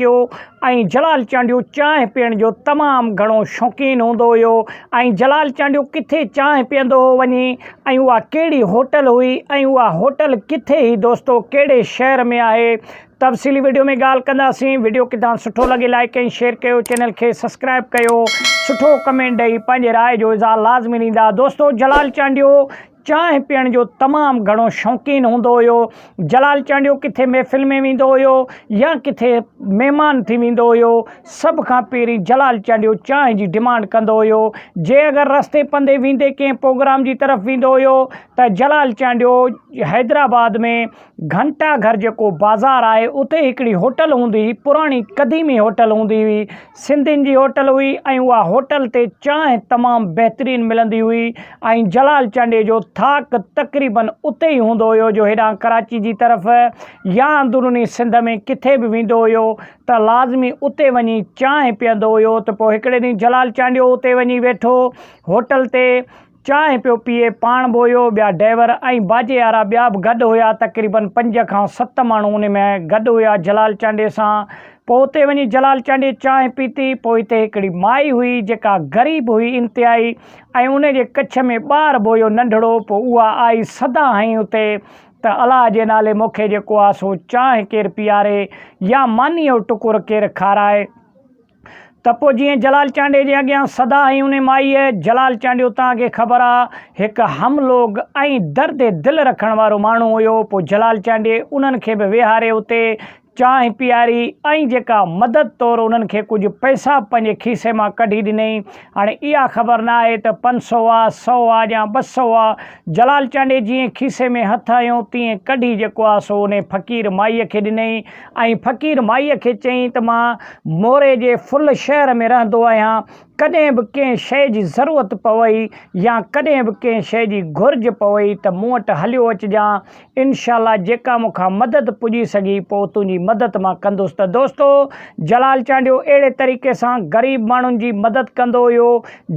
ٿيو ۽ جلال چانڊيو چانهه پيئڻ جو تمام گهڻو شوقين هوندو هيو ۽ جلال چانڊيو ڪٿي چانهه پيئندو هو وڃي ۽ اها ڪهڙي هوٽل هئي ۽ اها هوٽل ڪٿي هئي دوستو ڪهڙي شهر ۾ آهي تفصيلي وڊيو ۾ ڳالهه ڪنداسين وڊيو ڪٿان سٺو لڳي لائڪ ۽ شيئر ڪيو چينل کي سبسڪرائب ڪيو سٺو ڪمينٽ ڏئي پنهنجي راء جو اظهار لازمي ڏيندا دوستو جلال چانڊيو چانهه پيئڻ جو تمام گهڻو شوقين هوندو هيو. جلال چانڊيو ڪٿي محفل ۾ ويندو هيو يا ڪٿي مهمان ٿي ويندو هيو، سڀ کان پهرين جلال چانڊيو چانهه جي ڊمانڊ ڪندو هيو. جي اگر رستي پنڌي ويندي ڪنهن پروگرام جي طرف ويندو هيو ته جلال چانڊيو حيدرآباد ۾ گهنٽا گهر جيڪو بازار آهي اتي هڪڙي هوٽل هوندي هئي پراڻي قديمي هوٽل هوندي هئي سنڌين جي هوٽل هئي ۽ اها هوٽل تي چانهه تمام بهترين ملندي هئي ۽ جلال چانڊيي جو ٿاڪ تقريبا اتي ئي هوندو هيو جو هيڏانهن ڪراچي جي طرف يا اندروني سنڌ ۾ ڪٿي به ويندو هيو ته لازمي اتي وڃي چانهه پيئندو هيو ته پوء هڪڙي ڏينهن جلال چانڊيو اتي وڃي ويٺو هوٽل تي چانهه پيو پيئي، پاڻ به هيو، ٻيا ڊئيور ۽ باجي وارا ٻيا به گڏ هيا، تقريبن پنج کان ست ماڻهو ان ۾ گڏ هيا جلال چانڊيي سان، پوء اتي وڃي جلال چانڊيي چانهه پيتي، پوء اتي هڪڙي مائي هئي جيڪا غريب هئي انتهائي ۽ ان جي ڪڇ ۾ ٻار به هيو ننڍڙو، پوء اها آئي سدا هنئي اتي ته الاء جي نالي مونکي جيڪو آ سو چانهه ڪير پيئاري يا مانيء جو ٽڪر ڪير کارائي. ته پوء جيئن جلال چانڊيو جي اڳيان سدا ۽ انهي مائيء جلال چانڊيو توهان کي خبر آ هڪ هم لوگ ۽ درد دل رکڻ وارو ماڻهو هيو پوء جلال چانڊيي انهن کي به ويهاري اتي چانهه پياري ۽ جيڪا مدد طور انهن کي ڪجهه پئسا پنهنجي کيسي مان ڪڍي ڏنئي هاڻي اها خبر نه آهي ته پنج سئو آ سئو آ يا ٻه سئو آ جلال چانڊيي جيئن کيسي ۾ هٿ هنيو تيئن ڪڍي جيڪو آ سو انهي فقير مائيء کي ڏنئي ۽ فقير مائيء کي چيائين ته مان موري جي فل شهر ۾ رهندو آهيان، ڪڏهن به ڪنهن شيء جي ضرورت پوي يا ڪڏهن به ڪنهن شيء جي گهرج پوي ته مون وٽ هليو اچجان، انشاء الله جيڪا مون کان مدد پڄي سگهي پوء تنهنجي مدد مان ڪندس ته دوستو جلال چانڊيو اهڙي طريقي سان غريب ماڻهن جي مدد ڪندو هيو،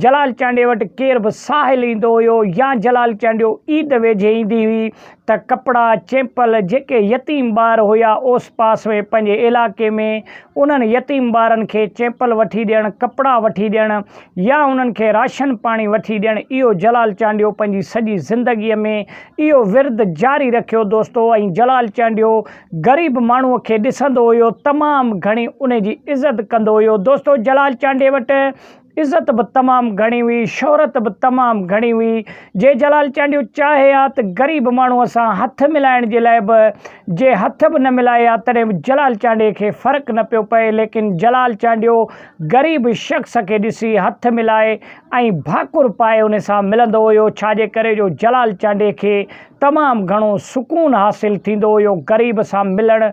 جلال چانڊيي وٽ ڪير به ساحل ايندو هيو يا جلال چانڊيو عيد ويجهي ايندي هئي ته ڪپڙا، چيمپل جيڪي يتيم ٻار هيا اوس پاس ۾ پنهنجي علائقي ۾ انهن يتيم ٻارن کي چيمپل وٺي ڏيڻ، ڪپڙا وٺي ڏيڻ يا انهن کي راشن پاڻي وٺي ڏيڻ اهو جلال چانڊيو پنهنجي سڄي زندگي ۾ اهو ورد جاري رکيو دوستو ۽ جلال چانڊيو غريب ماڻهو کي ڏسندو هيو تمام گهڻي انهي جي عزت ڪندو هيو دوستو جلال چانڊي وٽ عزت به تمام گهڻي هئي، شهرت به تمام گهڻي هئي. جي جلال چانڊيو چاهي ها ته غريب ماڻهوء سان هٿ ملائڻ جي لاء به جي هٿ به نه ملائي ها تڏهن به جلال چانڊيي کي فرق نه پيو پئي ليڪن جلال چانڊيو غريب شخص کي ڏسي هٿ ملائي ۽ ڀاڪر پائي ان سان ملندو هيو ڇا جي ڪري جو جلال چانڊيي کي تمام گهڻو سڪون حاصل ٿيندو هيو غريب سان ملڻ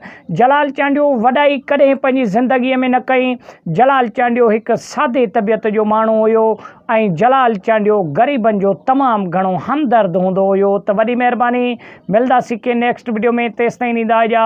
جلال چانڊيو وڏائي ڪڏهن پنهنجي زندگي ۾ نه ڪئي جلال چانڊيو هڪ سادي طبيعت جو ماڻهو هيو ۽ جلال چانڊيو غريبن جو تمام گهڻو همدرد هوندو هيو ته وڏي مهرباني ملداسين ڪنهن نيڪسٽ وڊيو ۾ تيستائين ڏيندا اجازت.